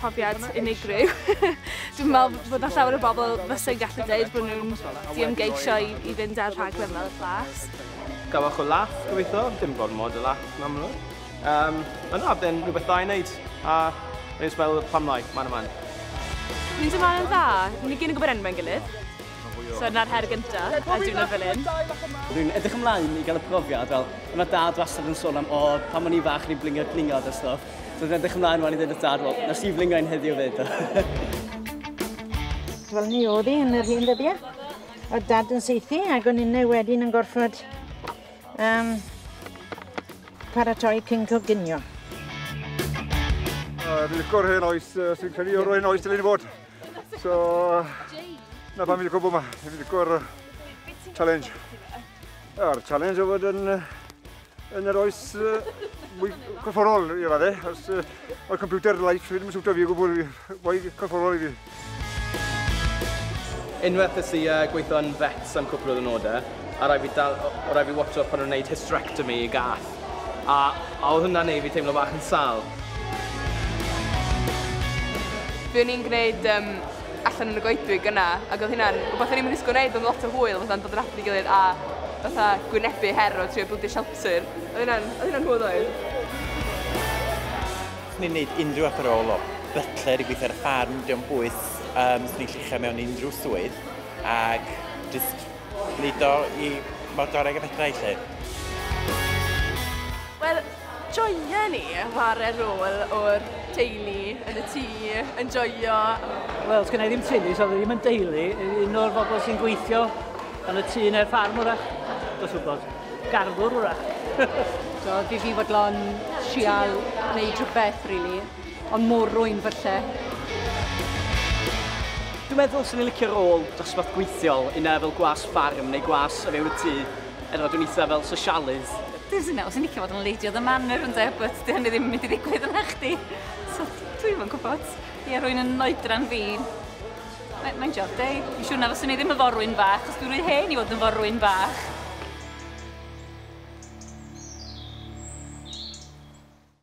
profiad unigryw. Dwi'n meddwl bod na llawer o bobl fysa'n gallu dweud bod nhw'n diymgeisio i, i fynd ar rhaglen fel y Flas. Gafwch o laff, gobeithio. Dim gormod o laff, yn amlwg. Um, ond na, byddai'n rhywbeth da i wneud. A rwy'n sbel pam lai, man yma. Ni'n dweud ma'n dda. Ni gyn yn gwybod enwau'n gilydd. So yna'r her gyntaf, a dwi'n fel un. Dwi'n edrych ymlaen i gael y profiad, fel, yna dad wastad yn sôn am, o, pan o'n i fach, ni'n blingio glingod a stuff. So dwi'n edrych ymlaen wan i ddweud wrth dad, wel, na Steve Lingain heddiw ddweud. Wel, ni oedd hi yn yr hyn ddyddiau. Oedd dad yn seithi ac o'n innau wedyn yn gorfod um, paratoi cyn coginio. Uh, Dwi'n licor hen oes, uh, sy'n credu o'r hen oes dylai ni fod. So, na pan fi'n licor bod yma, fi'n licor challenge. A'r challenge o fod yn Yn yr oes mwy corfforol i fadde, os o'r computer life ddim yn siwtio fi o gwbl, mwy corfforol i fi. Unwaith ys i uh, gweithio yn vets am cwpl o ddynodau, a rai fi, dal, o rai fi watcho pan nhw'n gwneud hysterectomy i gath. A, a oedd hwnna'n ei fi teimlo bach yn sal. Fe o'n i'n gwneud um, allan yn y goedwig yna ac oedd hynna'n rhywbeth o'n i'm yn ddisgwyl wneud, oedd lot o hwyl fatha yn dod yn at ei gilydd a fatha gwynebu her o trio bildio shelter. Oedd hynna'n, oedd hynna'n hwyl oedd? Ni'n gwneud unrhyw fath o rôl o butler i gweithio ar y ffarm, dim ond bwys um, sy'n ei llichio mewn unrhyw swydd ac jyst wneud o i mor gorau ag y fedrai lle. Wel, Joio ni, whare rôl o'r teulu yn y tŷ, yn joio. Wel, sgynna i ddim teulu, so ddim yn deulu. Un o'r bobl sy'n gweithio yn y tŷ neu'r ffarm wrach, dos wybod. Garddwr wrach. so, fi fi fodlon trial neu rhywbeth, really. Ond mor rwy'n falle. Dwi'n meddwl sy'n i'n licio rôl dosbarth gweithiol, yna fel gwas ffarm neu gwas o fewn y tŷ, Er fod dwi'n eitha fel sosialydd. Dwi'n sy'n meddwl, sy'n licio fod yn Lady of the Manor ynde, but dyn ni ddim yn mynd i ddigwydd yna chdi. So, dwi'n yn gwybod. Ie, rwy'n yn oedran fi. Mae'n mae job deg. Dwi'n siŵr na fyswn i ddim yn forwyn bach, os dwi'n rhy hen i fod yn forwyn bach.